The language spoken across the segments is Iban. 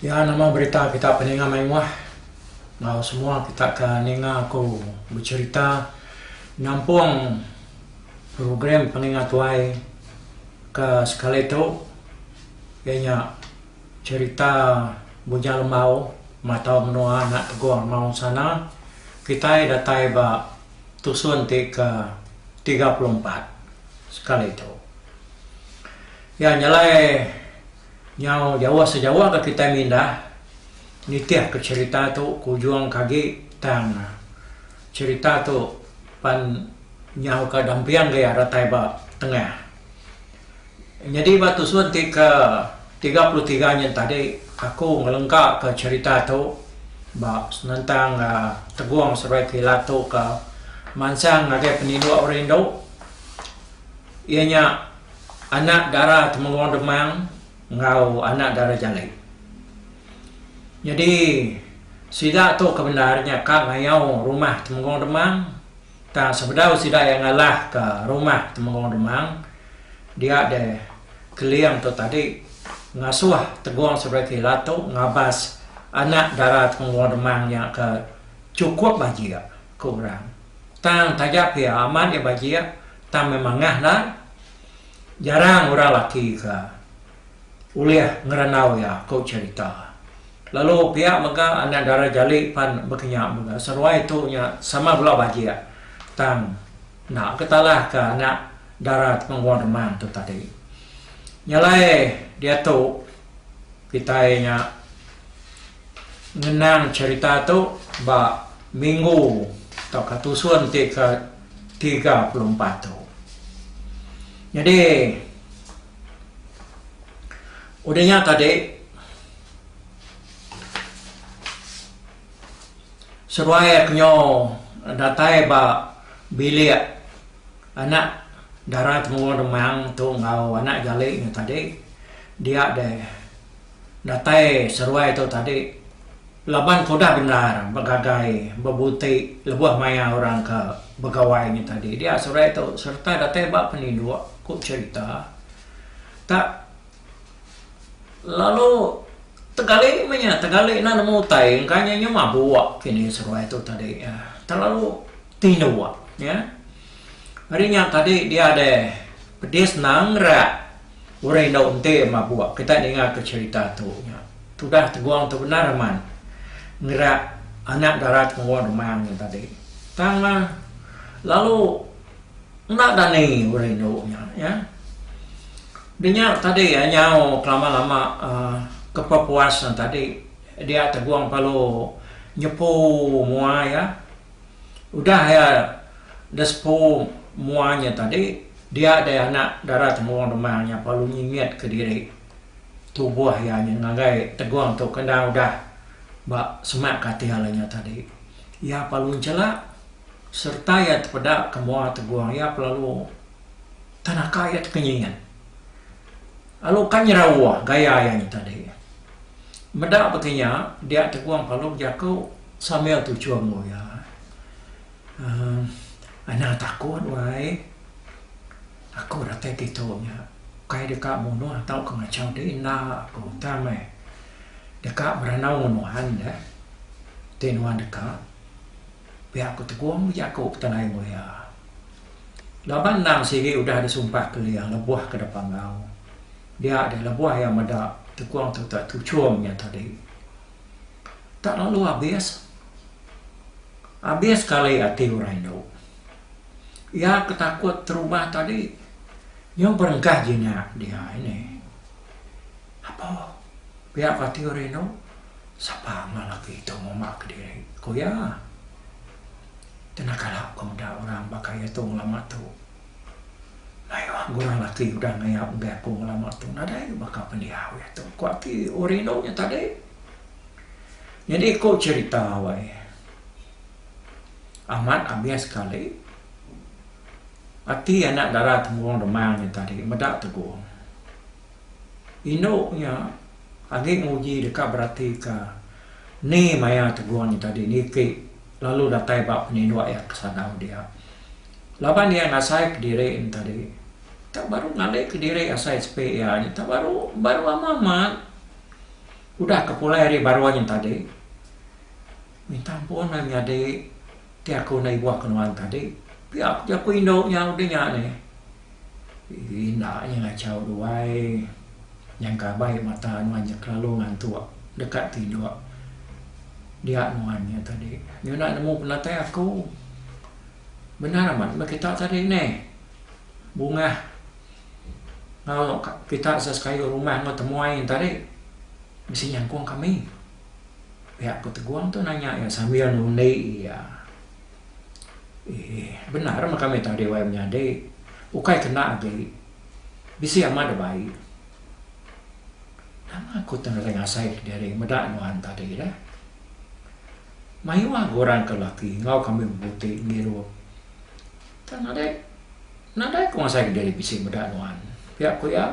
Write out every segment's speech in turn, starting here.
Iya nama berita kita peninga mayuh enggau semua kita ke ninga aku becerita nampung program peninga tuai. Ke sekali tu, iya nya cherita Bujang Lembau matau menua anak Teguh Amau ensana kitai datai ba tusun ti ke tiga puluh empat sekali tu. Iya nyelai nyau jauh sejauh ke kitai mindah nitihka cherita tu ke ujung ke agi tang. Cherita tu pan nyau ka damping ke iya datai ba tengah. Nyadi ba tusun ti ke tiga puluh tiga nyin tadi aku ngelengka ka cherita tu ba senentang tegung seruai kilat tu ka mansang ngagai peninduk orang indu iya nya anak dara temengung demang. enggau anak dara Jalai. Nyadi sida tu ke bendar nya ka ngayau rumah Temenggong Demang tang sebedau sida iya ngalahka rumah Temenggong Demang dia deh Keling tu tadi ngasuh Tegong Sebraki Latu ngabas anak dara Temenggong Demang nya ke chukup bajik ku orang. Tang taja pia amat iya bajik tang meh mangah lai. Jarang orang laki ke ulih ngerandau iya, ku cherita. Lalu pia mega anak dara jali pan bekenyau mega seruai tu nya sama bela bajik tang enda ke talah ke anak dara Temenggong Remang tu tadi. Nyelai diatu. Kitai nya ngenang cherita tu ba minggu tauka tusun ti ke tiga puluh empat tu. Nyadi udah nya tadi seduai aku nyo datai ba bilik anak dara temuru Demang tu enggau anak jali nya tadi. Dia deh datai seruai tu tadi laban ke udah bendar begagai bebuti lebuh maya orang ke begawai nya tadi dia seruai tu sereta datai ba peninduk ku cherita tak lalu tegali meh nya tegali enda nemu utai engka nya nya mabuk kini seruai tu tadi terlalu tinduk ya. Ari nya tadi dia deh pedis nang rak. Orang indu enti mabuk kitai ningaka cherita tu nya tudah tegong tu bendar amat ngerak anak dara temurun remang nya tadi tang mah lalu enda dani orang indu nya ya dinya tadi nyau kelama lama um kepepuas tadi dia tegong perlu nyepu mua iya. Udah iya da sepu mua nya tadi, dia dai anak dara temurung Demang nya parlu nyingit ke diri tubuh iya nya ngagai Tegong tu kenda udah ba semak katil nya tadi. Iya parlu nchelak sereta iya tepeda ke mua Tegong iya pelalu tenaka iya teka nyingit. Alu ka nyerawa gaya iya nyi tadi. Meda baka nya, dia Tegong Palu bejaku sambil tuchum enggau iya. Uhh, anang takut wai. Aku datai kitu nya ukai deka munuh tauka ngachau diri enda aku tang meh deka beranau ngan nuhan deh ti nuhan deka. pia ku Tegong bejaku petenai mulia. Laban endang sigi udah disumpah kelia lebuh ke depa enggau. Dia deh lebuh iya meda Tegong tu tak tuchum nya tadi. Tak lalu abis. Abis kali ati orang indu. Iya ke takut terubah tadi nyau berengkah jinak dia ini. Apo pia ko ti ori inu? Sapa mah laki tu ngumba ke diri ko iya. Kena kala ko meda orang baka iya tu ngelama tu. Mayuh gurang laki udah ngayap enggai aku ngelama tu nadai baka pendiau iya tu ko ti ori inu nya tadi. Nyadi ko cherita wai amat abis sekali ati anak dara temurun dema nya tadi meda tegong. Indu nya agi nguji deka beratika ni maya Tegung nya tadi niki lalu datai ba peninduk iya ke sagau dia. Laban iya ngasaika diri nya tadi tak baru ngalika diri asai sepi iya nya tak baru baru amat amat udah ke pulai ari baruh nya tadi minta ampun meh nyadi Ti aku enda ibuh ke nuan tadi. Pia ku jaku indu nya udah nya ni. Ii enda nya ngachau tu ai. Nyangka abai mata nuan nya kelalu ngantuk deka tinduk. Dia nuan nya tadi nyunak nemu penatai aku. Bendar amat meh kita tadi ni. Bungah enggau kita sekayu rumah enggau temuai tadi bisi nyangkong kami. Pihak Petegung tu nanya iya sambil nundi iya. Ee, bendar meh kami tau Dewan Menyadi. Ukai kena agi, bisi amat da bai. Nama aku tu ngagai ngasai diri meda nuan tadi deh. Mayuh agi orang ke laki enggau kami bebuti ngirup. Tang nadai nadai ku ngasai diri bisi meda nuan, pia ku iya.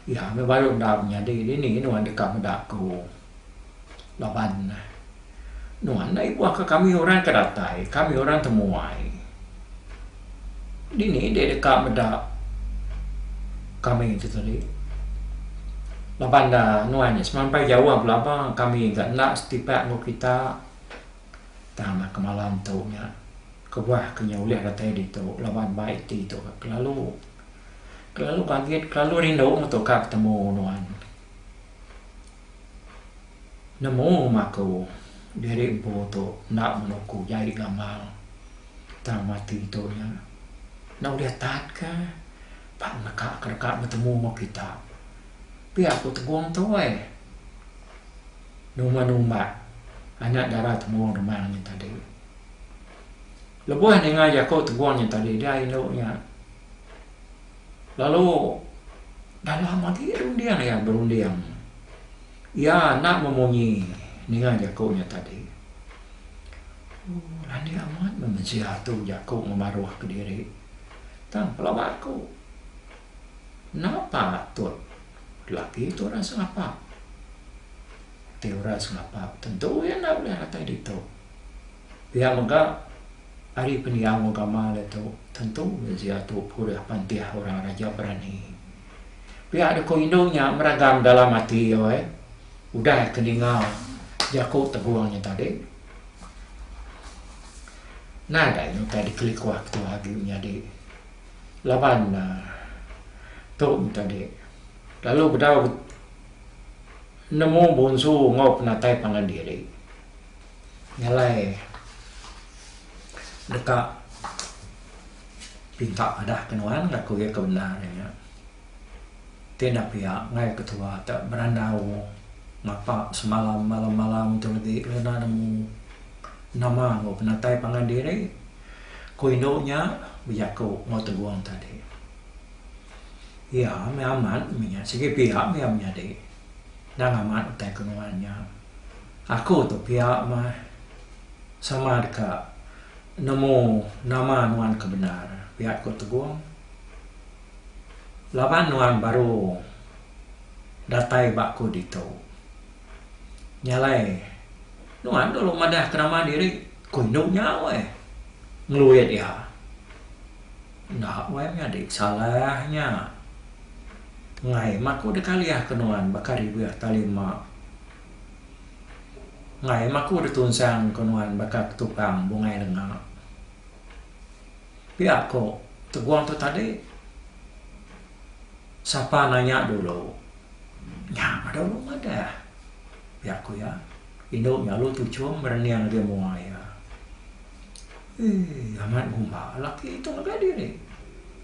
Iya meh baru enda menyadi dini nuan deka meda aku laban nuan enda ibuhka kami orang ke datai, kami orang temuai. Dini deh deka meda kami tu tadi laban da nuan nya semampai jauh belaba kami ga enda setipak enggau kita tang naka malam tu nya kebuah ke nya ulih datai ditu laban bai ti tu kelalu. Kelalu pagit kelalu rindu ngetuka betemu nuan. Nemu rumah aku diri empu tu enda meno aku jai gamal tang mati tu nya enda ulih tat ka pa neka ka deka betemu enggau kita. Pia aku tegong tu ai. Numba numba anak dara temu rumah nya tadi. Lebuh ninga jaku Teguang nya tadi dia indu nya lalu dalam agi runding iya berunding. Iya enda memunyi ninga jaku nya tadi. Ooh landik amat meh mensia tu jaku ngebaruh kediri. Tang pelaba aku enda patut lelaki tu orang sengapa. Ti orang sengapa tentu iya enda ulih datai ditu. Pia mega, ari pendiau agama diatu tentu diatu purih pantih orang Raja Berani. Pia deka indu nya meragang dalam ati alai udah ke ninga jaku Tegong nya tadi. Nadai utai dikelikuh ketuah agi menyadi laban tu nya tadi lalu bedau nemu bonsu enggau penatai pangan diri. Ngalai deka pinta madah ke nuan ngaku iya ke bendar nya nya. Ti enda pia ngagai ketua te berandau ngapa semalam malam-malam tu legi kena nemu nama enggau penatai pangan diri ku indu nya bejaku enggau Tegong tadi. Iya meh amat meh nya sigi pia meh iya menyadi. Endang amat utai ke nuan nya. Aku tu pia mah sama deka nemu nama nuan ke bendar, pia ku Tegong. Laban nuan baru datai ba ku ditu. Nya alai nuan dulu madahka nama diri, ku indu nya weh, ngeluit iya. Enda wai menyadi salah nya. Ngai mah aku dikalih ke nuan baka ribih tali ma. Ngai mah aku ditunsang ke nuan baka ketupang bungai lenga. Pia ko tegong tu tadi. Sapa nanya dulu. Nya mah dulu madah. Pia ko iya. Indu nya lalu tuchum berening agi mua iya. Eii, amat gumba laki tu ngagai diri,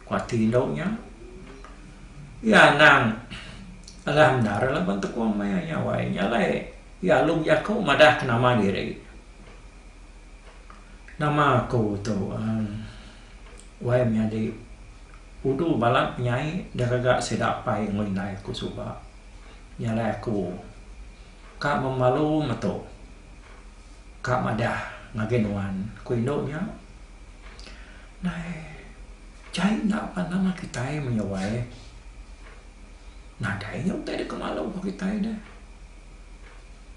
ku ati indu nya. Iya anang alah endar laban tekong maya nya awai nya alai iya alum jaku madahka nama diri. Nama aku tu, emm, wai menyadi udu balat penyai da gaga sida apai enggau indai aku suba. Nya alai aku. Ka membalu metu. Ka madah ngagai nuan, ku indu nya. Nai, jai enda pan nama kitai menyuai. Nadai nya utai deka malu ba kitai deh.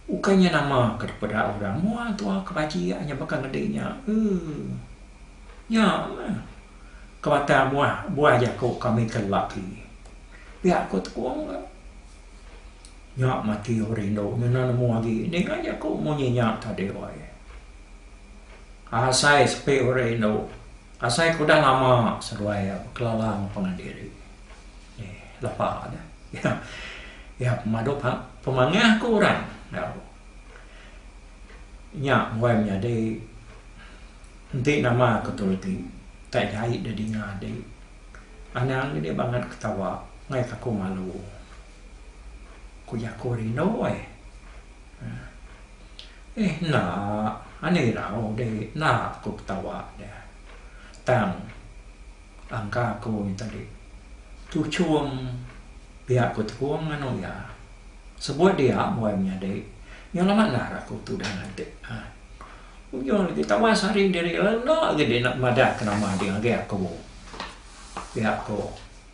Ukai nya nama ke dipeda orang mua tua ke bajik nya baka ngedi nya. Euu. Nya meh. Ke batang mua buah jaku kami ke lelaki. Pia ku Tekong ka. Nya mati aku rindu ngena nemu agi ning aja aku munyi nya tadi wai. Asai sepi aku rindu asai aku udah lama seduai iya bekelalang pengadiri ni lepa nya iya iya pemadu pemangah aku orang au nya wai menyadi enti nama aku tu reti tak jai da dinga adi. Anang nih bangat ketawa ngaika aku malu. Ku jaku rindu ai. Eeh enda ani irau deh enda aku ketawa deh. Tang angka aku nih tadi tu chum pia ku tekung anu iya. Sebut dia buai menyadi iya lama ngar aku tudah nganti. Ujung agi tawas ari diri iya enda agi deh enda madahka nama deh ngagai aku. Pia ko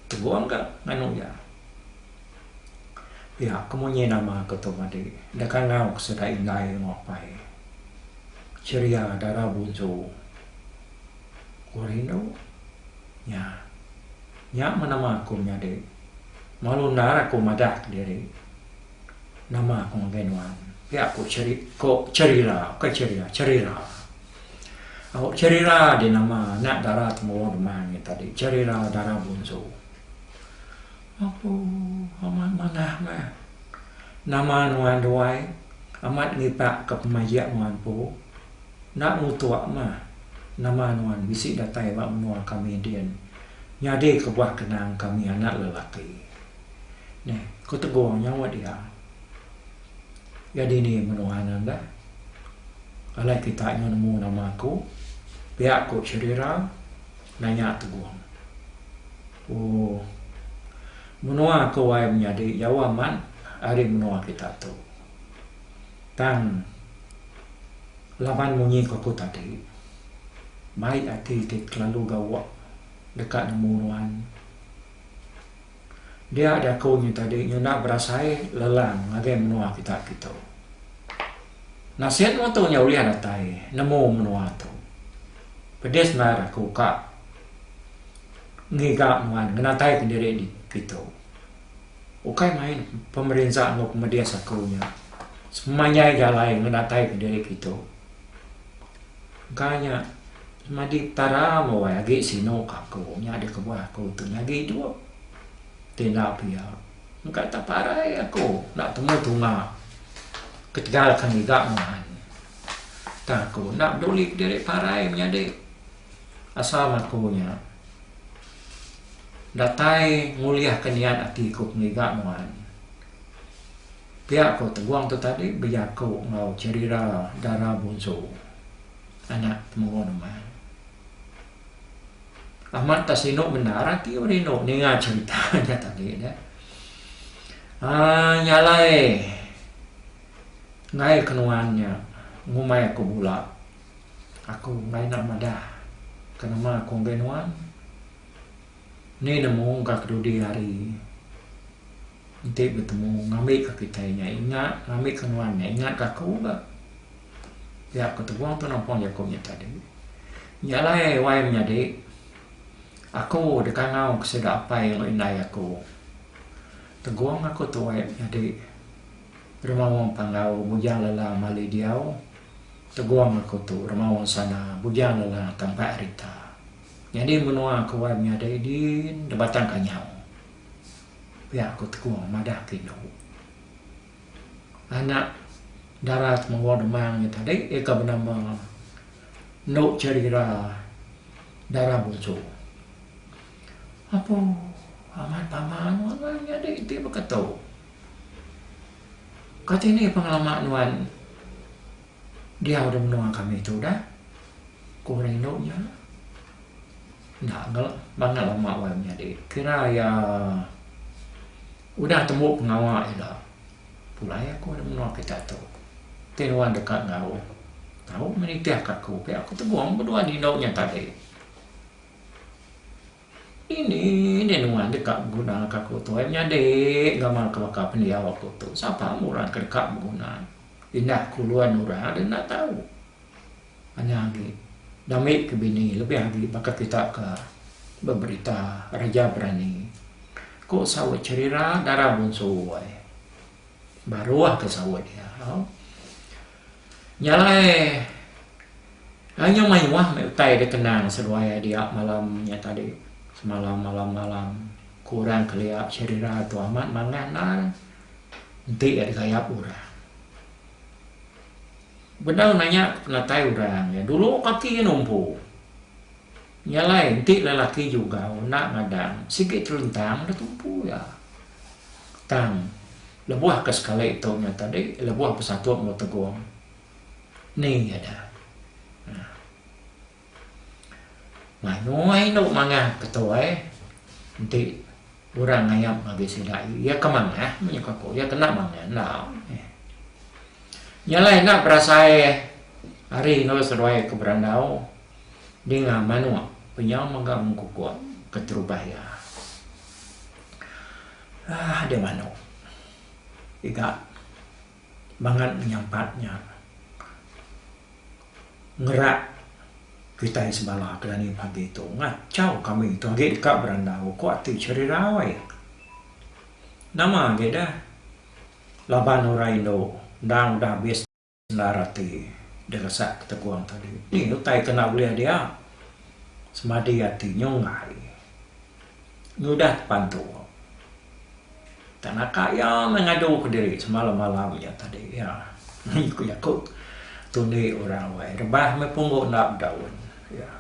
Tebong ka nganu iya. Pia ko munyi nama ko tu madi enda kangau sida indai enggau apai. Ceria dara bunsu. Ko Rinu nya. Nya meh nama ko nyadi. Malu endar aku madah diri. Nama aku ngagai nuan? Pia aku cheri ko Cherira, bukan Cherira, Cherira. Au Cherira di nama anak dara Tembuwang Demang ngi tadi. Cherira dara bunsu. Apu amat manah meh. Nama nuan duai amat ngipak ke pemajik nuan empu. Enda ngutuk meh. Nama nuan bisi datai ba menua kami din nyadi kebuah kenang kami anak lelaki. Neh, ku Teguh nyaut iya. Iya dini menua anan dah. Alai kita nyau nemu nama aku, pia ku Sherira nanya Teguh. Oh, menua aku ai menyadi jauh amat ari menua kita tu. Tang, laban munyi ku aku tadi, mai ati ti kelalu gawa deka nemu nuan. Dia jaku nyi tadi nyuna berasai lelang ngagai menua kita kitu. Nasin mutu nya ulih datai nemu menua tu. Pedis maer aku ka ngiga nuan ngenatai ke diri di kitu. Ukai main pemerinsa enggau pemedis aku nya semanyai jalai ngenatai ke diri kitu. Engka nya nyadi petara mawai agi sinu ka aku nya di kebuah aku tu nyadi idup. Ti enda pia engka tak parai aku enda temu tunga ketegal ka ngiga nuan. Tang aku enda peduli diri parai menyadi asal aku nya datai ngulih ka niat ati ku pengiga nuan. Pia ko Teguang tu tadi bejaku enggau Cherira Dara Bunsu, anak Temengoh Neman. Amat ka sinu bendar ati orang rindu ninga cherita nya tadi dah. Ah nya alai ngail ke nuan nya ngumbai aku bula. Aku enggai nak madah ke nama aku ngagai nuan. Ni nemu ka kedudi hari. Enti betemu ngambi ka kitai nya ingat ngambi ka nuan nya ingat ka aku ga. Pia ku Teguh tu nampung jaku nya tadi. Nya alai wai menyadi aku dikangau ke sida apai enggau indai aku. Teguh ngaku tuai menyadi remaung panggau Bujang Lelang Mali Diau. Teguh ngaku tu remaung sana Bujang Lelang Tampai Arita. Nyadi menua ku wai menyadi din da Batang Kanyau. Pia ku Tekong madah ke indu. Anak dara Temenggong Demang nya tadi iya ke benama Endu Cherira Dara Busu. Apo amat pama nuan nyadi enti baka tu. Kati ni pengelama nuan? Diau di menua kami tu dah, ku orang indu nya. Enda ngel, bangau uma wai menyadi. Kira iya udah tembu pengawa ila. Pulai aku di menua kita tu. Ti nuan deka enggau tau menitihka aku pia aku tegong bedua rindu nya tadi. Ini nih nuan deka beguna ka aku tuai menyadi gamal ke baka pendiau aku tu sapa meh orang ke deka beguna indah kulun orang deh enda tau nya agi dah mih ke bini lebih agi baka kita ke beberita reja berani ku saut cherira dara bunsu ai baruh ke saut dia. Nya alai Ai nyau mayuh meh utai da tenang seduai ai dia malam nya tadi. Semalam malam malam ku orang kelia Sherira tu amat manah nal enti iya digayap orang. Bedau nanya ku penatai orang iya dulu kaki iya numpu. Nya alai enti lelaki jugau enda ngadang sigi terentang da tumpu iya. Tang Lebuh ke sekali tu nya tadi lebuh besatu enggau Tegong ni ngadah uhh. Mayuh indu mangah ke tu ai enti orang ngayap ngagai sida iya ke mangah menyuka aku iya kena mangah enda meh. Nya alai enda berasai ari enggau seduai ke berandau dinga manuk penyau mega mengkukuk keterubah iya. Aah deh manok iga mangan menyampat nya ngerak kitai sebala ke dani pagi tu ngachau kami tu agi deka berandau ko ati cherirai. Nama agi deh laban orang indu endang udah habis. Endar ati deresak ketegung tadi ni utai ke enda ulih dia semadi ati nyunggai ngudah tepantu tak naka iya meh ngadu ke diri semalam malam nya tadi iya ku jaku tundi orang wai rebah meh punggu enda bedaun iya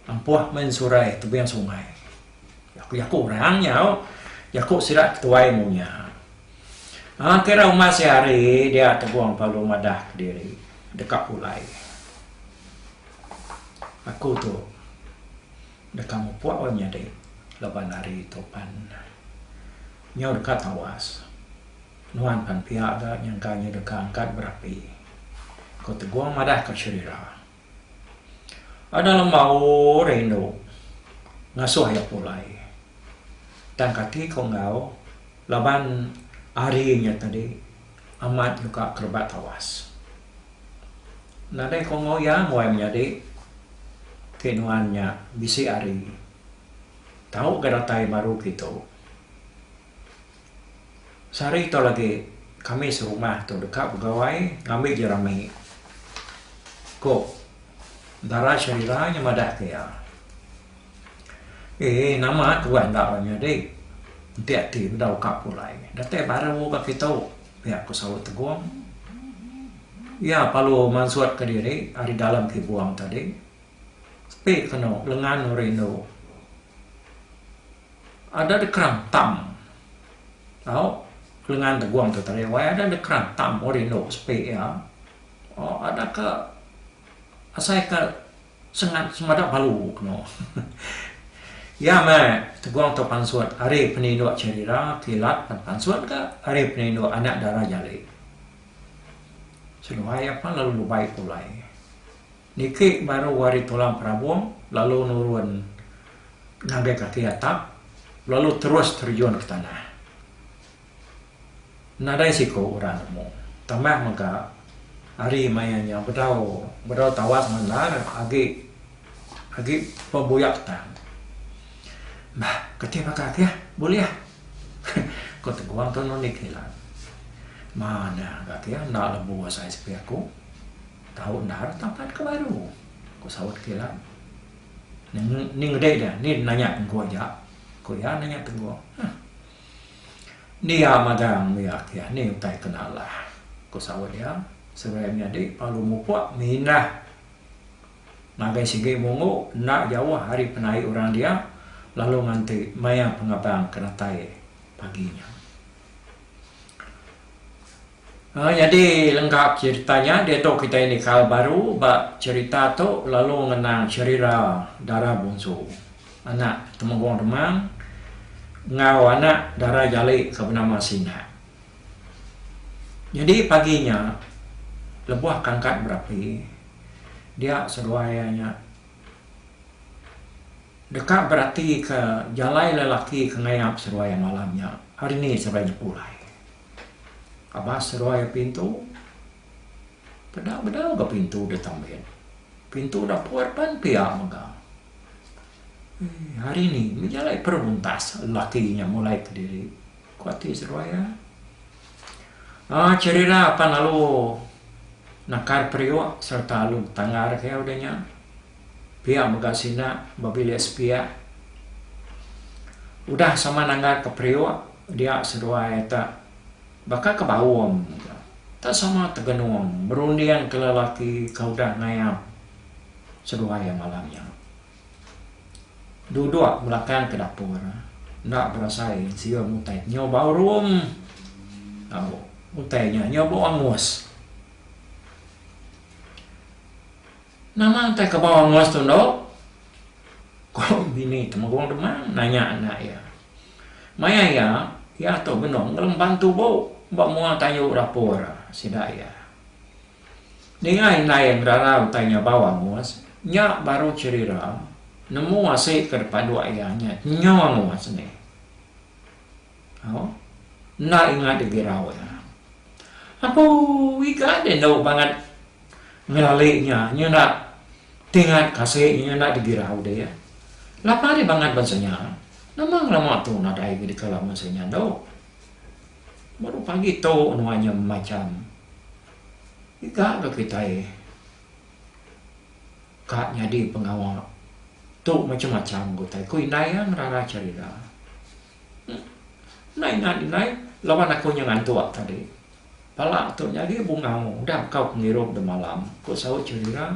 ampuh meh ensurai tebing sungai ku jaku orang nyau jaku sida ketuai mung nya. Enti ra uma sehari dia Tegong perlu madah kediri deka pulai. Aku tu deka mupuk orang nyadi laban hari tu pan nyau deka tawas. Nuan pan pia ga nyangka nya deka angkat berapi, ku Tegong madah ke Sherira. Anang lembau rindu ngasuh iya pulai. Tang kati ku enggau laban ari nya tadi amat nyuka ke rebak tawas. Nadai ku enggau iya ngoi menyadi ti nuan nya bisi ari tau ga datai baru kitu. Sehari tau lagi kami serumah tu deka begawai ngambi jerami ku dara Sharila nya madah ke iya. Ee nama tuah enda ra nyadi enti ati bedau ka pulai datai baru ka kitu pia ku saut Tegong. Iya perlu mansut ka diri ari dalam kibung tadi sepi kenu lengan rindu. Ada da kerang tam tau lengan tegung tu tadi wai ada da kerang tam oh rindu sepi iya oh ada ka asai ka sengat semada balu keno iya meh tegung tu pansut ari peninduk cherira kilat pen pansut ka ari peninduk anak dara jali seduai iya pun lalu lubai pulai. Niki baru ari tulang perabung lalu nurun ngagai kaki atap lalu terus terjun ke tanah. Nadai siku orang nemu. Tambah mega ari maya nya bedau bedau tawas mandar agi agi pebuyak tang. Bah, kati baka ke bulih? ku Teguang tunu niki lan. Manah ga ke enda lebuh sai sepi aku. Tau endar tampat ke baru, ku saut Kilan. Ni ngedai dia, ni nanya Tengku aja, ku iya nanya Tengku. Huh. Ni iya magang mih agi, ni utai ke nalah, ku saut iya sebirai menyadi lalu mupuk mindah ngagai sigi Mungu enda jauh ari penai orang dia lalu nganti maya pengabang ke datai pagi nya. Nyadi lengka cherita nya diatu kitai nikal baru ba cherita tu lalu ngenang cherira dara bungsu, anak Temenggung Demang enggau anak dara Jali ke benama Sinak. Nyadi pagi nya lebuh kangkat berapi dia seduai iya nya deka beratika jalai lelaki ke ngayap seduai iya malam nya hari ni seduai nya pulai. Abah seruai pintu. Peda bedau ga pintu da tambit. Pintu da put pan pia mega. Ii, hari ni mih jalai peruntas lelaki nya mulai kediri, ku ati seruai iya. Aaa, Cherira pan alu nakar periuk sereta alu tangar ke udah nya. Pia mega sida bebilik sepiak udah sama nanggar ke periuk dia seduai te baka ke baum te sama tegenung berunding ke lelaki ke udah ngayap seduai iya malam nya. Duduk belakang ke dapur enda berasai siung utai nyau bau rum tau utai nya nyau bau angus. Nama utai kebau angus tu endo? Ku bini temegong demang nanya anak iya. Maya iya, iya tu benung ngelemban tubu ba mua tayu dapur sida iya. Ninga indai iya ngerara utai nya bau angus, nya baru cherira nemu asi ke depan dua iya nya nyu angus nih. Au, enda ingat digi raut nya. Aku iga deh endu bangat ngelali nya, nya enda ti ingat kasih nya, nya enda digi raut deh iya. Lapa deh bangat bansa nya. Nama ngelama tu nadai ke dikala bansa nya endu. Baru pagi tu nuan nya macam iga ke kitai ka nyadi pengawa tu macam-macam ku utai, ku indai iya ngerara cerita. Nai ngai nai laban aku nya ngantuk tadi. Pala tu nyadi bungau udah kau pengirup dah malam, ku saut Chalira.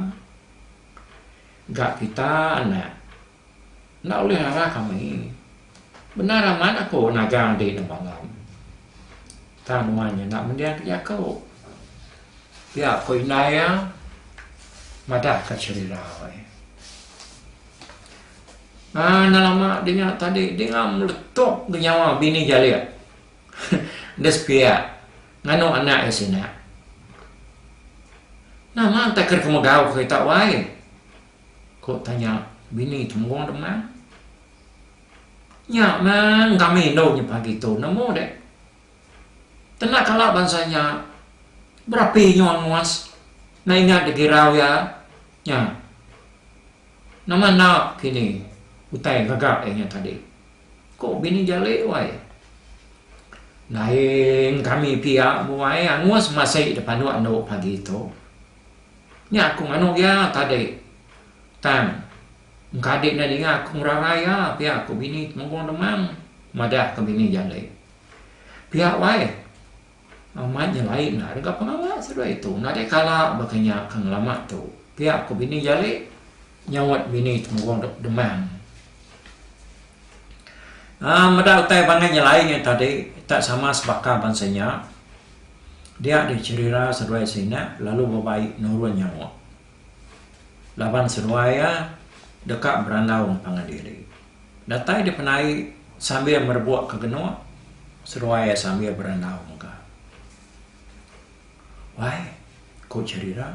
Ga kita anak. Enda ulih rara kami. Bendar amat aku nagang adi dah malam. Tang nuan nya enda mending ke jaku. Pia ku indai iya madahka Chalira. Haa nalama dinga tadi dinga meletup ga nyawa bini jalik enda sepiak nganu anak iya sina. Nama enta ke deka megau ke kita wai? Ku tanya bini tembu demang. Nya mah kami indu nya pagi tu nemu dek. Tena kala bansa nya berapi nyu angus enda ingat digirau iya nya. Nama enda kini utai gaga iya nya tadi? Ko bini jali wai. Lain kami pia buai angus masih di panu andu pagi tu. Nya aku nganu iya tadi tang engkadi enda ninga aku ngerarai iya pia ko bini Temenggung Demang madah ka bini jali. Pia wai. Amat nyelai enda deka pengawa seduai tu nadai kala baka nya ke ngelama tu, pia ku Bini Jali nyaut bini temurung dep demang. Um meda utai pangan nyelai nya tadi tak sama sebaka bansa nya dia di cherira seduai sina lalu bebai nurun nyaut laban seduai iya deka berandau ngepangan diri. Datai dipenai sambil merebuk ke genuk, seruai iya sambil berandau mega. Wai, ku cheri ira,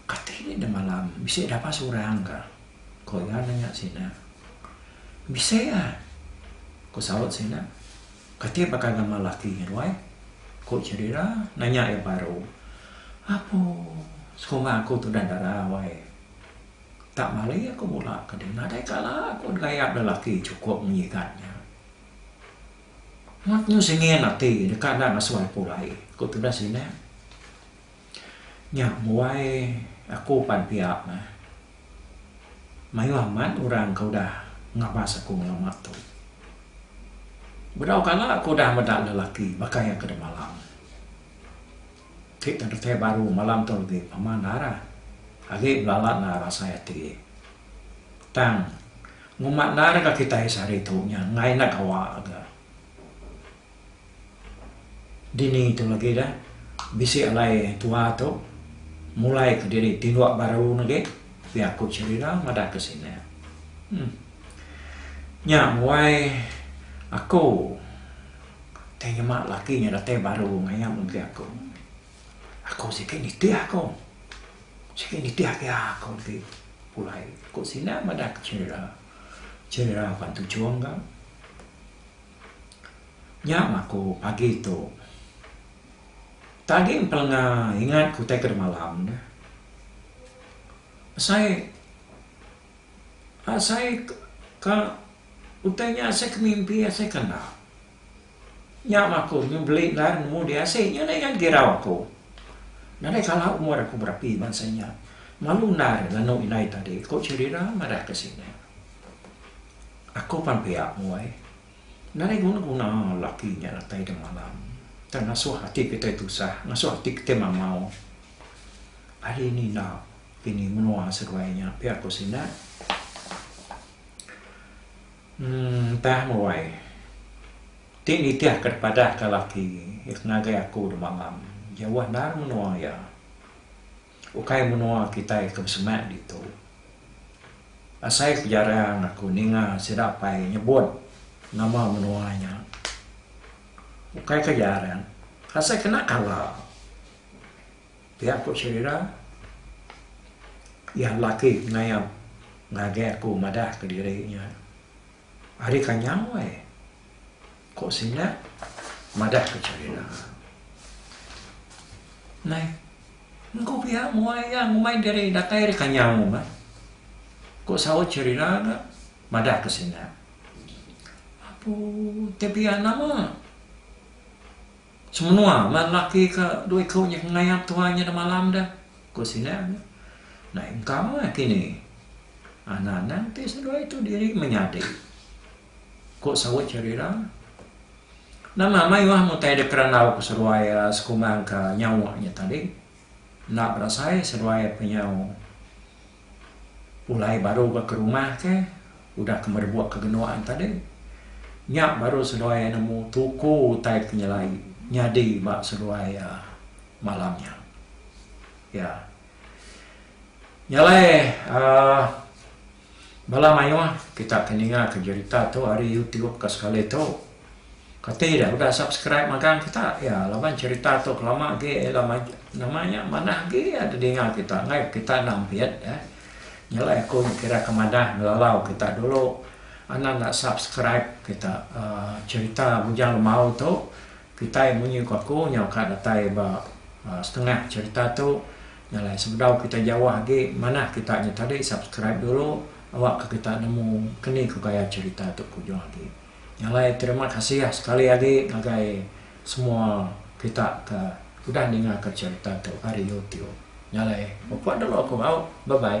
kati ni enda malam bisi dapai seorang ka? ku iya nanya sida. Bisi iya, ku saut sida. Kati baka gamal laki nya ruai? ku cheri ira nanya iya baru. Apu, sekuma aku tudah dara, wai. Tak mali aku mula ke dia nadai kala aku digayap lelaki chukup ngigat nya. Mat nyu singin ati deka enda ngesuai pulai, ku tudah sinak. Nya buai aku pan pia meh. Mayuh amat orang ke udah ngabas aku ngelama tu. Bedau kala aku udah meda lelaki baka iya ke demalam. Ti tang ketai baru malam tu agi pama Nara agi belala Nara rasai ati. Tang nguma Nara ga kitai sehari tu nya engai enda gawa ga. Dini tu lagi dah bisi alai tua tu mulai ke diri tinduk baru ne agi pia aku Cherina madah ke sine. Nya wai aku. Tei nyema laki nya datai baru ngayam enggai aku. Aku sigi nitih aku. Sigi nitih agi aku ti pulai, ku sida madah ke Chirira. Chirira pan tujung ga. Nya meh aku pagi tu. Tadi empelenga ingat ku tei ke demalam ne. Besai. Asai ka utai nya asai ke mimpi asai ke enda. Nya mah aku nyu beli lar nemu di asik nyu deh ngan girau aku. Nadai kala umur aku berapi bansa nya. Malu ndar nganu indai tadi ku Cherira madah ke sida. Aku pan pia muai. Nadai guna guna laki nya datai deh malam tang ngasuh ati kitai tusah ngasuh ati kitai mamau. Ari ninda. Ini menua seduai nya pia ku sida. Emm tah meruai. Ti nitih ke dipadah ka laki iya ke ngagai aku de malam. Jauh endar menua iya. Ukai menua kitai ke besemak ditu. Asai ku jarang aku ninga sida apai nyebut nama menua nya. Ukai ka jarang. Asai kena kala. Pia ku Sherira, iya lelaki ke ngayab ngagai aku madah ke diri nya ari ka nyau ai, ku sida madah ke Sherira. Nai, engku pia mua iya ngumbai diri datai ari ka nyau mah, ku saut Sherira ga madah ke sida. Apu, ti pia nama? Semenua bala lelaki ke dua iku nya ke ngayap tuai nya demalam deh, ku sida nya. Naik engkau meh kini. Anang-anang ti seduai tu diri menyadi, ku saut Cherira. Nama mayuh mutai dek randau ke seduai sekumbang ke nyawa nya tadi. Enda berasai seduai penyau. Pulai baru ba ke rumah ke udah ke merebuk ke genuk an tadi. Nya baru seduai iya nemu tuku utai penyelai nyadi ba seduai iya malam nya. Iya Nya alai uhh bala mayuh kita ke ninga ke jerita tu ari youtube ka sekali tu. Kati dah udah subscribe magang kita ya laban cerita tu kelama agi ila maju nama nya manah agi ya didinga kita ngai kita enda ampit eh nyelai aku nya kira ke madah ngelalau kita dulu anak enda subscribe kita aaa cerita Bujang Lemau tu kitai munyi ku aku nyau ka datai ba setengah cerita tu nyelai sebedau kita jauh agi manah kita nya tadi subscribe dulu awak ka kita nemu keni ku gaya cerita tu ku ujung agi. Alai terima kasih sekali agi ngagai semua kita ke udah ninga ke cerita tu ari YouTube. Alai pupuk dulu aku au. Bye bye.